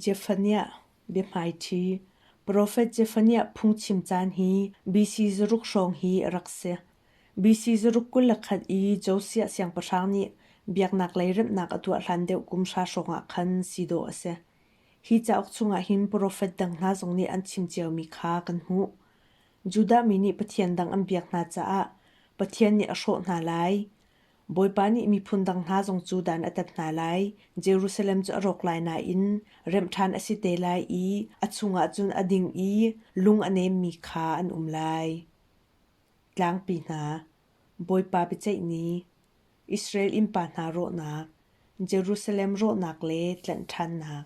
Jefaniah biahmaiṭhi profet Jefaniah phungchim caan hi BC zaruk hrawng hi a rak si. BC zaruk kul le khat i Josiah siangpahrang nih biaknaklei remhnak a tuah hlan deuh kum hra hrawngah khan si dawh a si. Hi cauk chungah hin profet dang hna zong nih an chim ciomi kha kan hmuh. Judah mi nih pathian dang an biak hna caah Pathian nih a hrawh hna lai. Bawipa nih miphun dang hna zong cu dan a tat hna lai. Jerusalem cu a rawk lai nain remh ṭhan a si te lai i a chungah cun a ding i lung a nemmi kha an um lai. Tlangpi hna, Bawipa biaceih ni, Israel innpa hna rawhnak, Jerusalem rawhnak le tlanh ṭhannak,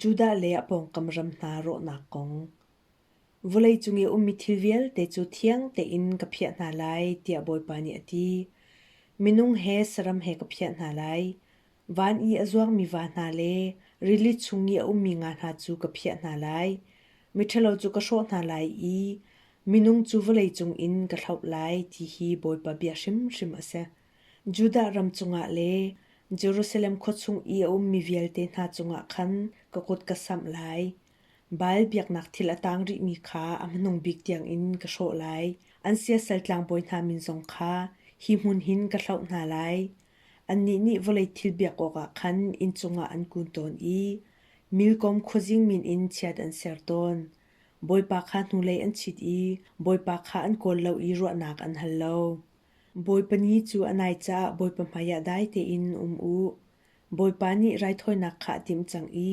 Judah le a pawngkam ram hna rawhnak kong vawlei cung i a ummi thil vialte cu thiang tein ka phiah hna lai, tiah Bawipa nih a ti. Minung he saram he ka phiah hna lai. Van i a zuangmi va hna le rili chung i a ummi nga hna cu ka phiah hna lai. Miṭhalo cu ka hrawh hna lai i minung cu vawlei cung in ka thlauh lai, ti hi Bawipa bia hrimhrim a si. Judah ram cungah le Jerusalem khua chung i a ummi vialte hna cungah khan ka kut ka samh lai. Baal biaknak thil a tang rihmi kha a hmanung bik tiangin ka hrawh lai. An siasal tlangbawi hna min zong kha hi hmun hin ka hloh hna lai. Annih nih vawlei thil biak awkah khan inn cungah an kun tawn i milkom khuazing min in chiat an ser tawn. Bawipa kha hnulei an chit i Bawipa kha an kawl lo i ruahnak an hal lo. Bawipa ni cu a nai caah Bawipa hmaiah dai tein um u. Bawipa nih raithawinak kha a timh cang i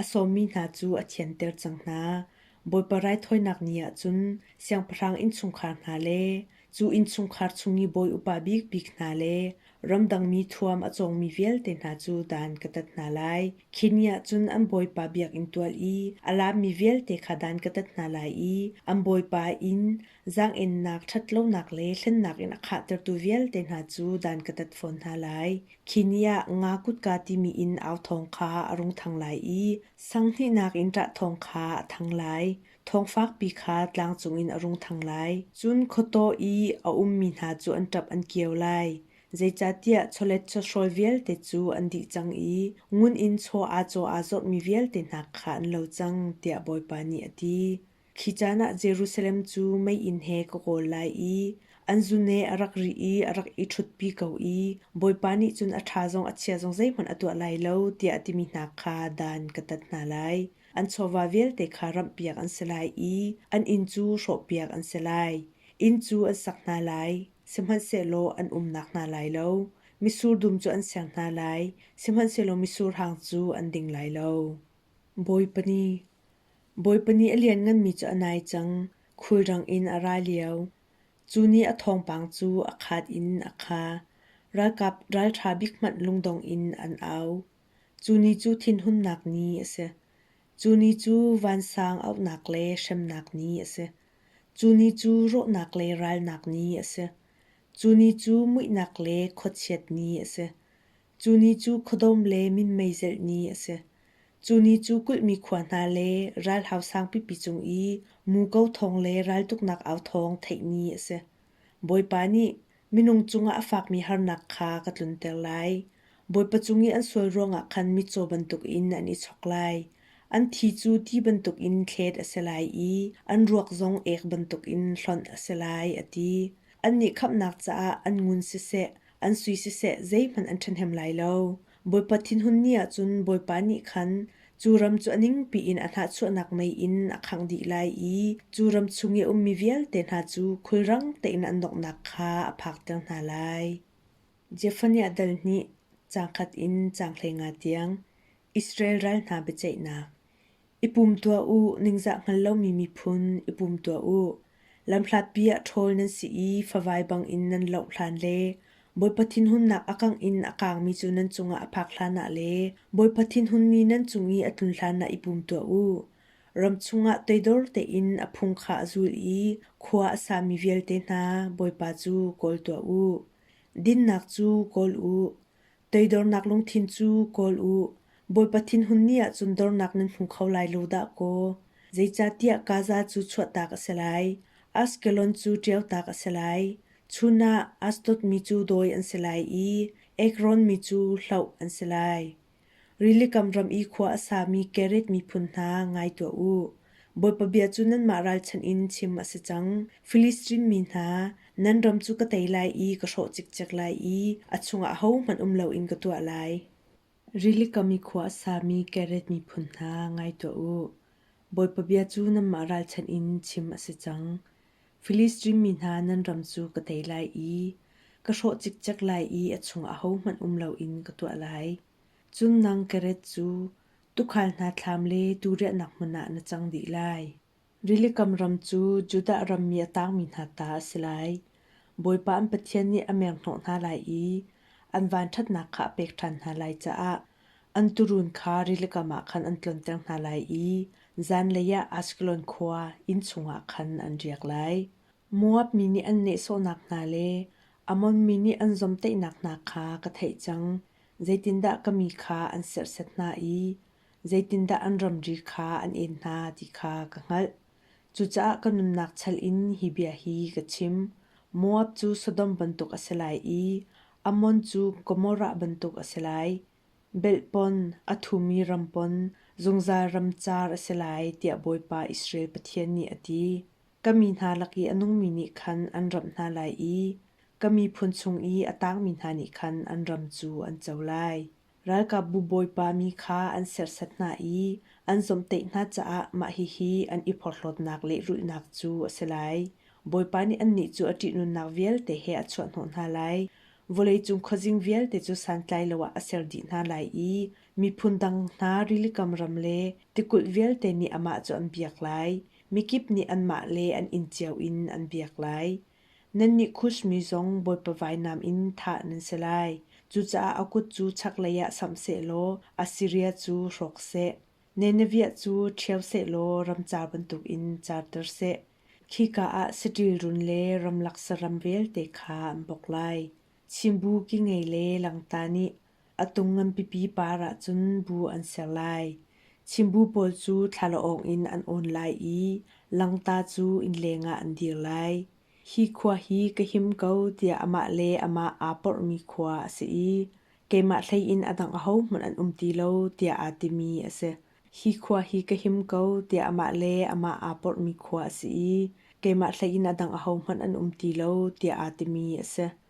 a sawmmi hna cu a thianter cang hna. Bawipa raithawinak ni ah cun siangpahrang innchungkhar hna le cu innchungkhar chung i bawi upa bikbik hna le ramdang mi thuam a cawngmi vialte hna cu dan ka tat hna lai. Khi ni ah cun an bawipa biakinn tual i a lammi vialte kha dan ka tat hna lai i an bawipa inn Zaangennak, ṭhatlonak le hlennak in a khahtertu vialte hna cu dan ka tat fawn hna lai. Khi ni ah nga kutka timi in au thawng kha a rung thang lai i sanghnih in ṭah thawng kha a thang lai. Thawng fakpi kha tlang cungin a rung thang lai. Cun khuataw i a ummi hna cu an ṭap an kio lai. Zeicahtiah chawlet chawhrawl vialte cu an dih cang i ngun in chaw aa caw aa zawtmi vialte hna kha an lo cang, tiah Bawipa nih a ti. Khi caan ah Jerusalem cu meiinn he ka kawl lai i an zune a rak ri i a rak i ṭhutpi ko i Bawipa nih cun a ṭha zong a chia zong zeihmanh a tuah lai lo, tiah a timi hna kha dan ka tat hna lai. An chawva vialte kha ramhpiak an si lai i an inn cu hrawhpiak an si lai. Inn cu an sak hna lai, sihmanhsehlaw an umnak hna lai lo. Misur dum cu an ser hna lai, sihmanhsehlaw misur hang cu an ding lai lo. Bawipa nih, Bawipa nih a liannganmi cu a nai cang, khulrang in a ra lio. Cu nih a thawngpang cu a khat in a kha. Ralkap ralṭha bik hmanh lungdong in an au. Cu ni cu thinhunnak ni a si. Cu ni cu vansang auhnak le hremnak ni a si. Cu ni cu rawhnak le ralnak ni a si. Cu ni cu muihnak le khuachiat ni a si. Cu ni cu khuadawm le minmei zelh ni a si. Cu ni cu kulhmi khua hna le ralhau sangpipi cung i muko thawng le raltuknak au thawng theih ni a si. Bawipa nih minung cungah a fakmi harnak kha ka tlunter lai. Bawipa cung i an sual ruangah khan mitcaw bantukin an i chok lai. An thi cu ti bantukin thlet a si lai i an ruak zong ek bantukin hlonh a si lai, a ti. Annih khamhnak caah an ngun siseh, an sui siseh zeihmanh an ṭhahnem lai lo. Bawipa thinhun ni ahcun Bawipa nih khan cu ram cu a ningpi in a hnahchuahnak mei in a khangh dih lai i cu ram chung i a ummi vialte hna cu khulrang tein an donghnak kha a phakter hna lai. Jephaniah dal nih cangkhat in canghlei nga tiang Israel ral hna biaceihnak I pum tuah u, ningzah hngal lomi miphun, i pum tuah u. Lamhlatpi ah ṭhawl nan si i favai bangin nan loh hlan le Bawipa thinhunnak a kangh in a kaangmi cu nan cungah a phak hlanah le Bawipa thinhunmi nan cung i a tlun hlanah i pum tuah u. Ram chungah toidor tein a phung kha a zul i khua a sami vialte hna Bawipa cu kawl tuah u. Dinnak cu kawl u. Teidornak lungthin cu kawl u. Bawipa thinhun ni ahcun dornak nan hmu kho lai lo dah kaw. Zeicahtiah Gaza cu chuahtak a si lai. Ashkelon cu ṭiautak a si lai. Chun ah Ashdod mi cu dawi an si lai i Ekron mi cu hloh an si lai. Rili kam ram i khua a sami Kereth miphun hna ngai tuah u. Bawipa bia cu nanmah ralchanh in chim a si cang. Filistin mi hna, nan ram cu ka tei lai i ka hrawh cikcek lai i a chungah ahohmanh um loin ka tuah lai. Rili kam i khua a sami Kereth miphun hna, ngai tuah u. Bawipa bia cu nanmah ralchanh in chim a si cang. Filistin mi hna, nan ram cu ka tei lai i ka hrawh cikcek lai i a chungah ahohmanh um loin ka tuah lai. Cun nang Kereth cu Tuukhal hna thlam le tuu riahnak hmun ah na cang dih lai. Rilikam ram cu Judah ram mi a tangmi hna ta a si lai. Bawipa an Pathian nih a menghnawh hna lai i an vanṭhatnak kha a pek ṭhan hna lai caah an tuurun kha rilikam ah khan an tlonter hna lai i zanlei ah Ashkelon khua inn chungah khan an riak lai. Moab mi nih an nehsawhnak hna le Ammon mi nih an zomhtaihnak hna kha ka theih cang. Zeitindah ka mi kha an serhset hna i zeitindah an ramri kha an en hna ti kha ka hngalh. Cucaah ka nunnak chal in hi bia hi ka chim: Moab cu Sodom bantuk a si lai i Ammon cu Gomorrah bantuk a si lai. Belhpon, a thumi rampon, zungzal ram caar a si lai, tiah Bawipa Israel Pathian nih a ti. Ka mi hna lak i a nungmi nih khan an ramh hna lai i ka miphun chung i a tangmi hna nih khan an ram cu an co lai. Ralkapbu bawipa mi kha an serhsat hna i an zomhtaih hna caah mah hihi an i porhlawtnak le rulhnak cu a si lai. Bawipa nih annih cu a ṭihnunnak vialte he a chuahhnawh hna lai. Vawleicung khuazing vialte cu santlai lo ah a ser dih hna lai i miphun dang hna rilikam ram le tikulh vialte nih amah cu an biak lai. Mikip nih anmah le an inn cio in an biak lai. Nannih Kush mi zong Bawipa vainam in thah nan si lai. Cucaah a kut cu chaklei ah samh sehlaw Assiria cu hrawk seh. Nineveh cu ṭhio sehlaw ramca bantukin charter seh. Khika ah saṭil run le ramlak saram vialte kha an bok lai. Chimbu ki ngei le langta nih A tung nganpipi par ahcun bu an ser lai. Chimbu pawl cu thlalaawng in an awn lai i langta cu innleng ah an dir lai. Hi khua hi ka him ko tiah amah le amah aa porhmi khua a si i keimah hlei in a dang ahohmanh an um ti lo tiah aa timi a si. Hi khua hi ka him ko tiah amah le amah aa porhmi khua a si i keimah hlei in a dang ahohmanh an um ti lo tiah aa timi a si.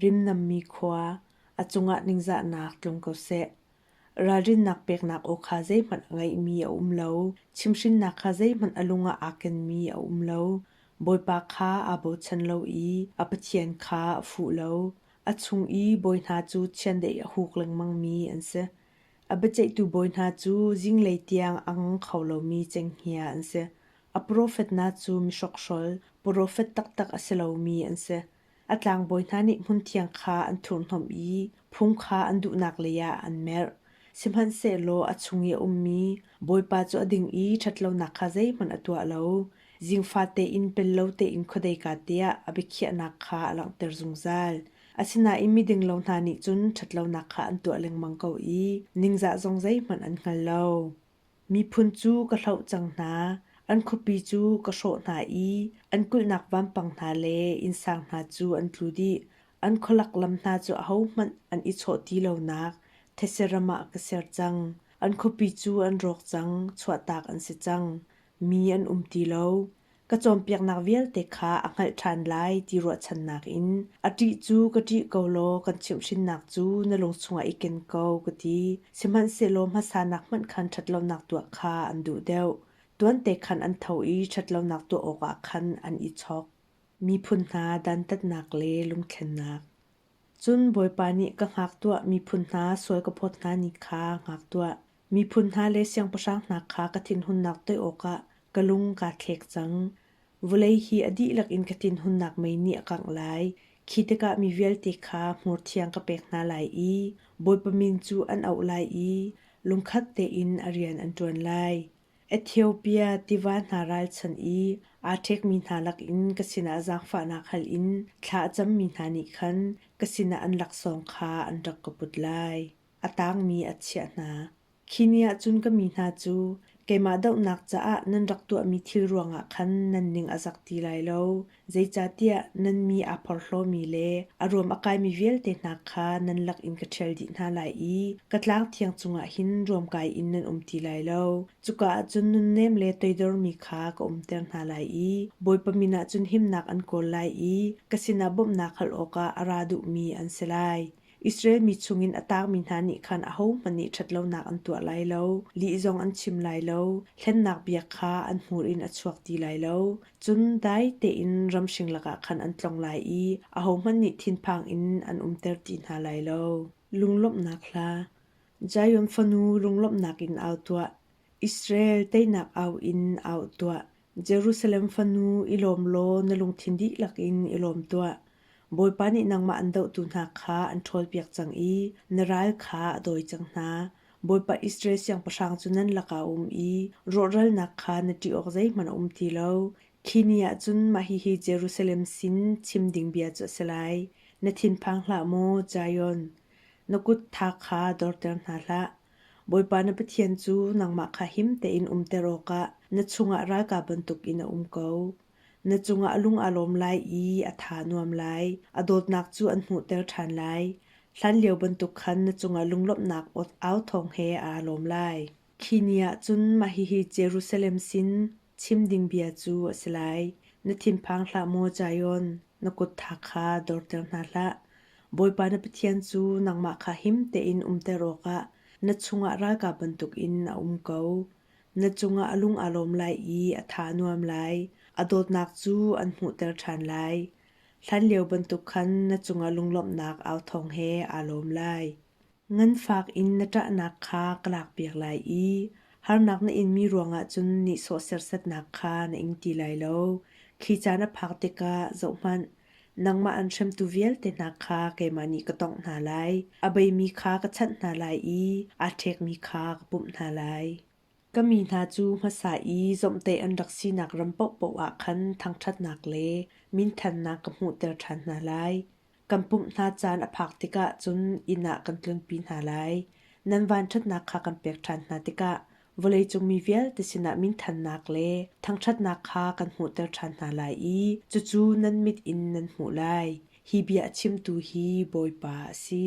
Rimnammi khua, a cungah ningzahnak tlung ko seh. Ralrinnak peknak aw kha zeihmanh a ngeihmi a um lo. Chimhrinnak kha zeihmanh a lungah aa kenmi a um lo. Bawipa kha aa bochan lo i a Pathian kha a fuh lo. A chung i bawi hna cu chiandeih a huk lengmangmi an si. A biaceihtu bawi hna cu zinglei tiang a ngang kho lomi cenghngia an si. A profet hna cu mi hrokhhrol, profet taktak a si lomi an si. A tlangbawi hna nih hmunthiang kha an thurhhnawmh i phung kha an duhnak leiah an merh. Sihmanhsehlaw a chung i a ummi Bawipa cu a ding i ṭhatlonak kha zeihmanh a tuah lo, zing fate in pel lo tein khuadei kaa tiah a biakhiahnak kha a langhter zungzal. Asinain midinglo hna nih cun ṭhatlonak kha an tuah lengmang ko i ningzah zong zeihmanh an hngal lo. Miphun cu ka hloh cang hna, an khuapi cu ka hrawh hna i an kulhnak vampang hna le innsang hna cu an tlu dih. An khualak lam hna cu ahohmanh an i chawh ti lonak thetse ram ah ka ser cang. An khuapi cu an rawk cang, chuahtak an si cang. Mi an um ti lo. Ka cawnpiaknak vialte kha a hngalh ṭhan lai ti ruahchannak in a ṭih cu ka ṭih ko law kan chimhhrinnak cu na lung chungah i ken ko ka ti. Sihmanhsehlaw hmasanak hmanh khan ṭhatlonak tuah kha an duh deuh. Tuante khan an tho i ṭhatlonak tuah awkah khan an i chok. Miphun hna dantatnak le lungthlennak. Cun Bawipa nih ka hngak tuah miphun hna sual ka phawt hngani kha hngak tuah. Miphun hna le siangpahrang hna kha ka thinhunnak toih awkah ka lung kaa thlek cang. Vawlei hi a dihlak in ka thinhunnak mei nih a kangh lai. Khi tikah mi vialte kha hmurthiang ka pek hna lai i Bawipa min cu an auh lai i lungkhat tein a rian an ṭuan lai. Ethiopia tiva hna ralchanh i aa ṭhekmi hna lakin ka sinah zaangfahnak hal in thla a cammi hna nih khan ka sinah an laksawng kha an rak ka put lai. A tangmi a chiah hna. Khi ni ah cun ka mi hna cu keimah dohnak caah nan rak tuahmi thil ruangah khan nan ning a zak ti lai lo, Zeicahtiah nan mi aa porhlawmi le a ruam a kaimi vialte hna kha nan lakin ka ṭhial dih hna lai i ka tlang thiang cungah hin ruamkai in nan um ti lai lo. Cuka ah cun nunnem le toidormi kha ka umter hna lai i Bawipa min ah cun himnak an kawl lai i ka sinah bawmhnak hal awkah a ra duhmi an si lai. Israel mi chungin a taangmi hna nih khan ahohmanh nih ṭhatlonak an tuah lai lo, lih zong an chim lai lo, hlennak bia kha an hmur in a chuak ti lai lo. Cun dai tein ramhring lakah khan an tlong lai i ahohmanh nih thinphang in an umter ti hna lai lo. Lunglawmhnak hla Zion fanu, runglawmhnak in au tuah! Israel teinak au in au tuah! Jerusalem fanu i lawm law na lungthin dihlak in i lawm tuah. Bawipa nih nangmah an dohtu hna kha an ṭhawlpiak cang i na ral kha a dawi cang hna. Bawipa Israel siangpahrang cu nan lakah a um i rawhralnak kha na ṭih awk zeihmanh a um ti lo. Khi ni ah cun mah hihi Jerusalem sin chim ding bia cu a si lai: Na thinphang hlah maw, Zion! Na kut tha kha dorter hna hlah. Bawipa na Pathian cu nangmah kha him tein umter awkah na chungah ralkap bantukin a um ko. Na cungah lung aa lawm lai i a tha nuam lai. A dawtnak cu an hmuhter ṭhan lai. Hlanlio bantuk khan na cungah lunglawmhnak au thawng he aa lawm lai. Khi ni ah cun mah hihi Jerusalem sin chim ding bia cu a si lai: Na thinphang hlah maw Zion, Na kuttha kha dorter hna hlah. Bawipa na Pathian cu nangmah kha him tein umter awkah na chungah ralkap bantukin a um ko. Na cungah a lung aa lawm lai i a tha nuam lai. A dawtnak cu an hmuhter ṭhan lai. Hlanlio bantuk khan na cungah lunglawmhnak au thawng he aa lawm lai. Nganfak in na ṭahnak kha ka lakpiak lai i harnak na inmi ruangah cun nihsawh sersatnak kha na ing ti lai lo. Khi ca na phak tikah zohhmanh, nangmah an hremtu vialte hna kha keimah nih ka tawngh hna lai. A beimi kha ka chanh hna lai i aa ṭhekmi kha ka pumh hna lai. Ka mi hna cu hmasa i zomhtaih an rak sinak ram paohpaoh ah khan thangṭhatnak le minthannak ka hmuhter ṭhan hna lai. Kan pumh hna caan a phak tikah cun inn ah kan tlunpi hna lai. Nan vanṭhatnak kha kan pek ṭhan hna tikah vawleicung mi vialte sinah minthannak le thangṭhatnak kha kan hmuhter ṭhan hna lai i cucu nan mit in nan hmuh lai. Hi bia a chimtu hi Bawipa a si.